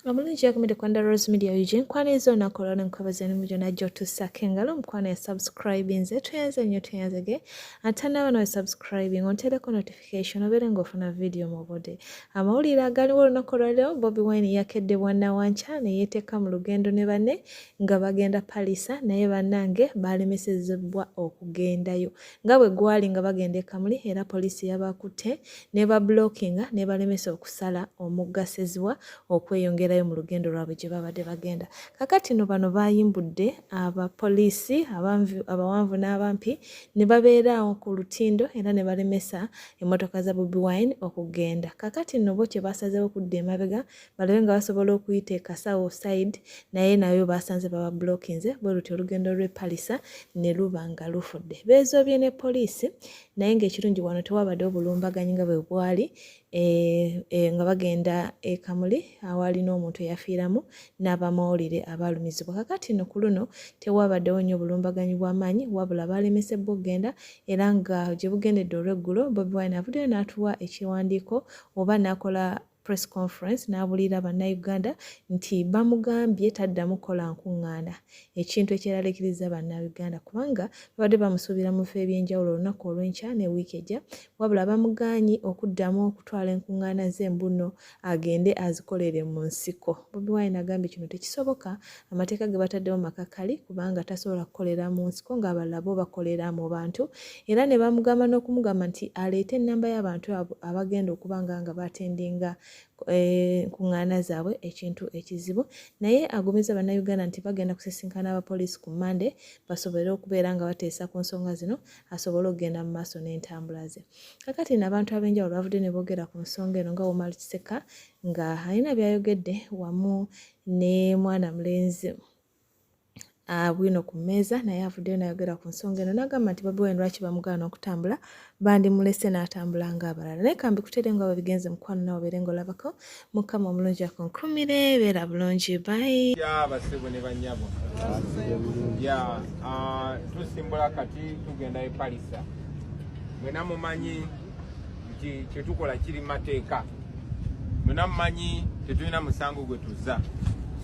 omulungi yakumide kwanda rose media ug nkwaniriza olunaku olwalo nkwebaza emimu gyona gyotuusako engalo omukwano ya subscribinze tweyanze nnyo tweyanzege ate naawe nawe subscribing ontereko notification obeere ngaofuna vidiyo mu budde amawulire agaliwo olunaku olwaliro bobi wine yakedde bwanawanca neyeteeka mu lugendo ne banne nga bagenda palisa naye bannange baalemesezebwa okugendayo nga bwe gwali nga bagenda e Kamuli era poliisi yabakutte n'ebabulokinga n'ebalemesa okusala omugga Sseziwa okweyongerayo mu lugendo lwabwe gye baabadde bagenda. Kakati no bano baayimbudde abapoliisi abawanvu n'abampi ne babeeraawo ku lutindo era ne balemesa emmotoka za Bobi Wine okugenda. Kakati no bo kye baasazeewo kudda emabega balabe nga basobola okuyita ekasawo side naye nayo basanze baba blockinze bwe lutyo olugendo lw'e palisa ne luba nga lufudde beezoobye ne poliisi naye ng'ekirungi wano tewabadde obulumbaganyi nga bwe bwali e, e, nga bagenda e kamuli awaali n'omuntu eyafiiramu n'abamawulire abaalumizibwa kakati no ku luno tewabaddewo nnyo obulumbaganyi bw'amaanyi wabula baalemesebbwa okugenda era nga gye bugendedde olw'eggulo bobi wine avuddeyo n'atuwa ekiwandiiko oba n'akola press conference n'abuliira bannayuganda nti bamugambye taddamu kukola nkuŋŋaana ekintu ekyeraliikiriza bannayuganda kubanga babadde bamusuubira mu bifo eby'enjawulo olunaku olw'enkya ne wiiki ejja wabula bamugaanyi okuddamu okutwala enkuŋŋaana ze mbuno agende azikolere mu nsiko bobi wine agambye kino tekisoboka amateeka ge bataddewo makakali kubanga tasobola kukolera mu nsiko ng'abalala bo bakolera mu bantu era ne bamugamba n'okumugamba nti aleete ennamba y'abantu abo abagenda okuba nga nga batendinga enkuŋŋaana eh, zaabwe ekintu ekizibu naye agumizza bannayuganda nti bagenda kusisinkana abapoliisi ku mande basobole okubeera nga bateesa ku nsonga zino asobole okugenda mu maaso n'entambula ze kakati no abantu ab'enjawulo bavudde ne boogera ku nsonga eno nga womali kiseka nga alina byayogedde wamu ne mwana mulenzi bwino ku mmeeza naye avuddeyo nayogera ku nsonga eno nagamba nti bobi wine lwaki bamugaana okutambula bandimulese n'atambula ng'abalala naye kambi kutere nga babigenze mukwano nawe obeere nga olabako mukama omulungi akunkumire beera bulungi bayi basebo ne banyabo ya tusimbula kati tugenda epalisa mwena mumanyi nti kyetukola kiri mateeka mwena mumanyi tetulina musango gwe tuzza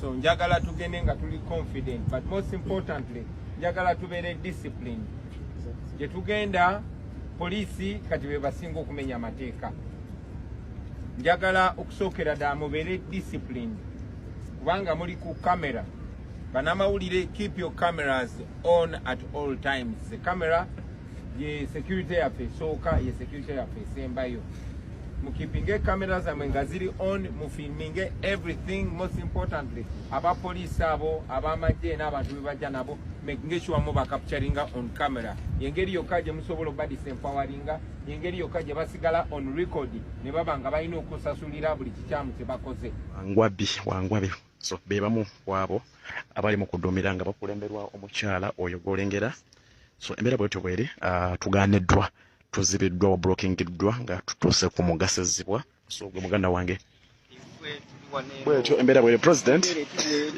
so njagala tugende nga tuli confident but most importantly njagala tubeere discipline gyetugenda poliisi kati bebasinga okumenya amateeka njagala okusookera ddala mubeere discipline kubanga muli ku kamera banamawulire keep your cameras on at all times the camera ye security yaffe esooka ye security yaffe esembayo mukipinge camera zamwe nga ziri on mufilminge everything most importantly aba police abo abamagye n'abantu bebajja nabo making sure mu bacapturinga on camera yengeri yokka gye musobola obadisa empawaringa yengeri yokka gye basigala on record ne baba nga balina okusasulira buli kikyamu kye bakoze wangwabi wangwabi so be bamu kwabo abali mu kuduumira nga bakulemberwa omukyala oyo gwolengera so embeera bwetyo bweri uh, tuganiddwa tuzibiddwa wablokingiddwa nga tutuuse ku mugasizibwa so gwe muganda wange bwetyo embeera bweri president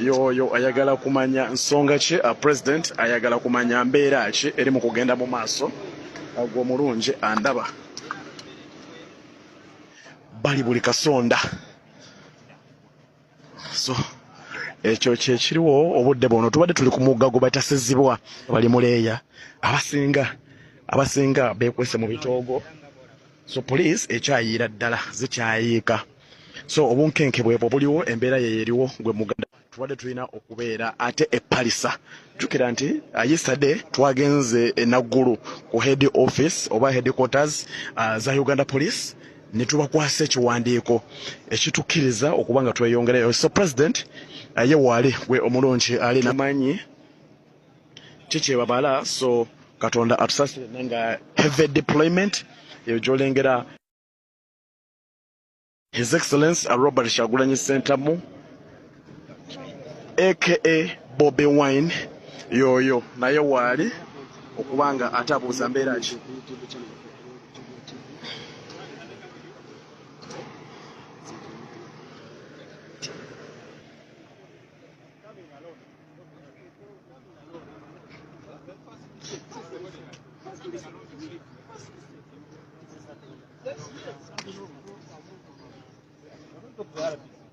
yoyo ayagala kumanya nsonga ki uh, president ayagala kumanya mbeera ki eri mu kugenda mu maaso uh, gwe omulungi andaba bali buli kasonda so ekyo kyekiriwo obudde bwono tubadde tuli ku mugga gwe bayita sizibwa bali muleeya abasinga abasinga bekwese mu bitoogo so poliisi ekyayiira ddala zikyayiika so obunkenke bwebwo buliwo embeera yeyo eriwo gwe muganda tubadde tulina okubeera ate epalisa jukira nti uh, yesterday twagenze enaggulu ku head office oba headquarters uh, za uganda police ne tubakwasa ekiwandiiko ekitukkiriza okuba nga tweyongerayo so president uh, ye waali gwe omulungi ali namanyi kikyebabala so katonda atusasire nga heavy deployment eyo gyolengera his excellence uh, robert kyagulanyi sentamu aka bobi wine yoyo naye waali okuba nga atabuuza mbeera ki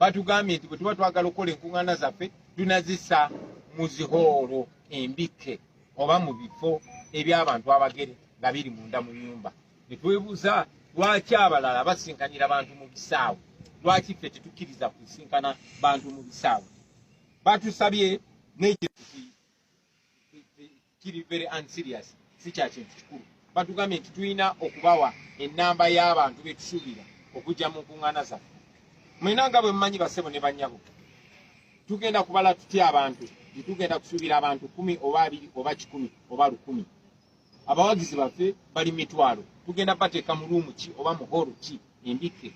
batugambye nti bwe tuba twagala okukola enkuŋŋaana zaffe tunazisa mu zihoolo embikke oba mu bifo eby'abantu abagere nga biri munda mu nyumba ne twebuuza lwaki abalala basinkanira bantu mu bisaawe lwaki ffe tetukkiriza kusinkana bantu mu bisaawe batusabye n'ekyo kiri very unserious si kya kintu kikulu batugambye nti tulina okubawa ennamba y'abantu be tusuubira okujja mu nkuŋŋaana zaffe mwena nga bwe mumanyi bassebo ne bannyabo tugenda kubala tutya abantu tetugenda kusuubira abantu kumi oba abiri oba kikumi oba lukumi abawagizi baffe bali mitwalo tugenda bateeka mu luumu ki oba mu hoolo ki embikke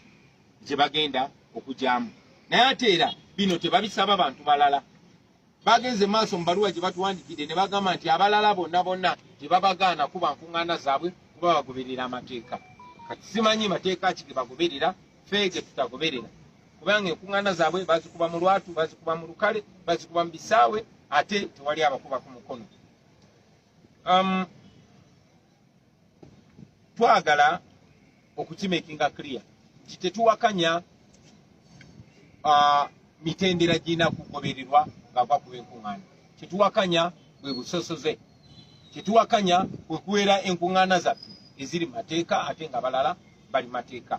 gye bagenda okugyamu naye ate era bino tebabisaba bantu balala Bagenze maaso mu baluwa gye batuwandikidde ne bagamba nti abalala bonna bonna tebabagaana kuba nkuŋŋaana zaabwe kuba bagoberera amateeka. Kati simanyi mateeka ki ge bagoberera ffe ge tutagoberera kubanga enkuŋŋaana zaabwe bazikuba mu lwatu, bazikuba mu lukale, bazikuba mu bisaawe ate tewali abakuba ku mukono. Um, twagala okukimakinga clear nti tetuwakanya uh, mitendera girina kugobererwa ngaava kuba enkuŋŋaana kyetuwakanya bwe busosoze kyetuwakanya kwe kuwera enkuŋŋaana zaffe eziri mateeka ate nga balala bali mateeka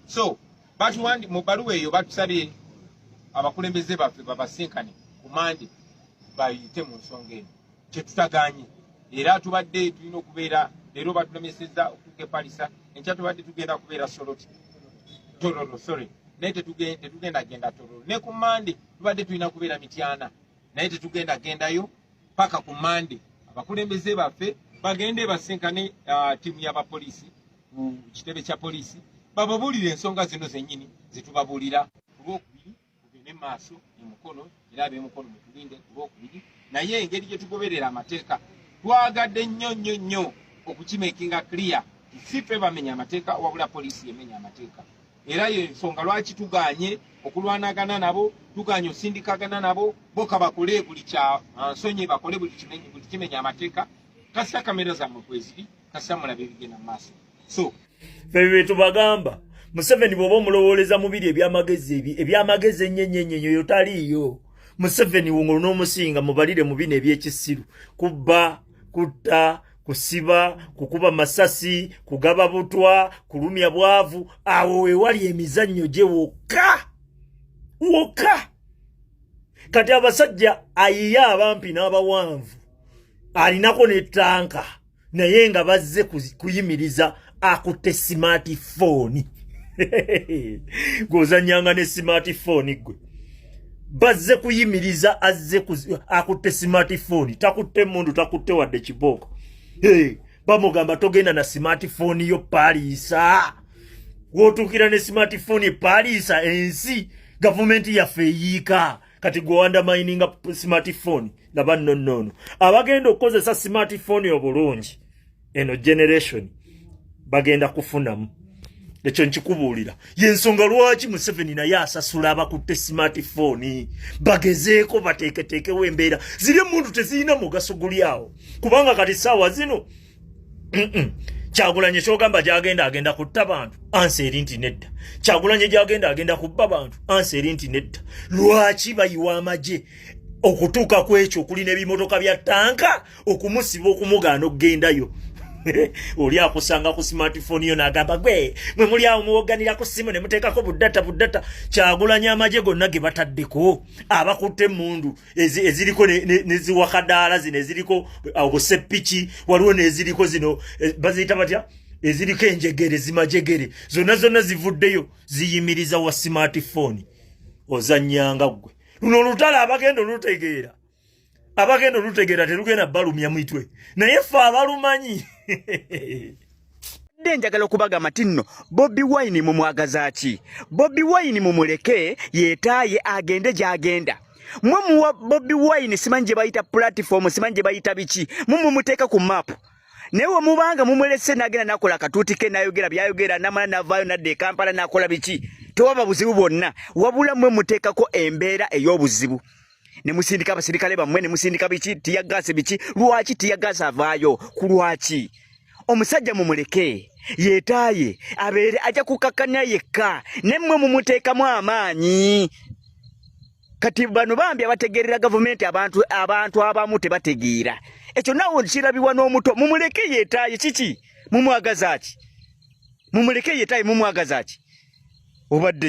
so batuwandi mu bbaluwa eyo batusabye abakulembeze baffe babasinkane ku mande bayite mu nsonga eno kyetutaganye era tubadde tulina okubeera leero batulemeseza okutuka epalisa enkya tubadde tugenda kubeera soloti tororo sorry naye tetugenda genda tororo ne ku mande tubadde tulina kubeera mityana naye tetugenda gendayo paka ku mande abakulembeze baffe bagende basinkane uh, tiimu yabapoliisi ku kitebe kya poliisi bababuulire ensonga zino zennyini zetubabuulira tugende mu maaso e mukono era abemukono mutulinde ku lwokubiri naye engeri gye tugoberera amateeka twagadde nnyo nnyo nnyo okukimekinga clear si fe bamenya amateeka wabula poliisi yemenya amateeka era yo ensonga lwaki tuganye okulwanagana nabo tuganye osindikagana nabo boka bakole buli kya ah, nsonyi bakole buli kimenya amateeka kasita kamera zammwe kweziri kasita mulabe ebigenda mu maaso so bebe tubagamba museveni bwoba omulowooleza mubiri ebyamagezi ebi ebyamagezi enyenyenyenyo yo taliiyo museveni wongo n'omusinga mubalire mu bino ebyekisiru kubba kutta kusiba kukuba masasi kugaba butwa kulumya bwavu awo wewali emizannyo gye wokka wokka kati abasajja ayiye abampi n'abawanvu alinako ne tanka naye nga bazze kuyimiriza akutte simaati fooni gweozanyanga ne simaati fooni gwe bazze kuyimiriza azze akutte simaati fooni takutte mundu takutte wadde kibooko bamugamba togenda na simaati fooni yo paliisa wotuukira ne simaati fooni epaliisa ensi gavumenti yaffe eyiika kati gwe wandamininga smartphone nga bannonnoono abagenda okukozesa smartphone obulungi eno generation bagenda kufunamu ekyo nkikubuulira yensonga lwaki museveni naye asasula abakutte smartphone bagezeeko bateeketeekewo embeera ziri emundu tezirina mugaso guli awo kubanga kati saawa zino kyagulanye kyogamba gyagenda agenda kutta bantu ansi eri nti nedda kyagulanye gyagenda agenda kubba bantu ansi eri nti nedda lwaki bayiwa amagye okutuuka ku ekyo okuli n'ebimotoka bya tanka okumusiba okumugaana okugendayo oli akusanga ku smartphone yo nagamba gwe mwe muli awo muwoganira ku simu ne muteekako buddata buddata kyagulanya amagye gonna ge bataddeko abakutte emundu eziriko neziwakadaala zino eziriko obuseppiki uh, waliwo neziriko zino eh, baziyita batya eziriko enjegere zimajegere zonna zonna zivuddeyo ziyimiriza wa smartphone ozanyanga gwe luno olutala abagenda olutegeera abagenda olutegeera terugenda balumya mitwe naye fe abalumanyi mbadde njagala okubagamba ti nno bobi wine mumwagaza ki bobi wine mumuleke yetaaye agende gyagenda mwe muwa bobi wine simanyi gye bayita pulatifomu simanyi gye bayita biki mu mumuteeka ku maapu naye wemubanga mumulese nagenda nakola akatuuti ke nayogera byayogera namala navaayo nadda ekampala nakola biki tewaba buzibu bwonna wabula mwe muteekako embeera ey'obuzibu ne musindika abasirikale bammwe ne musindika biki tiyagaasi biki lwaki tiyagaasi avaayo ku lwaki omusajja mumuleke yetaaye abeere ajja kukakkanya yekka ne mmwe mumuteekamu amaanyi kati bano bambi abategeerera gavumenti abantu abantu abamu tebategeera ekyo nawe kirabibwa n'omuto mumuleke yetaaye kiki mumwagaza ki mumuleke yetaaye mumwagaza ki obadde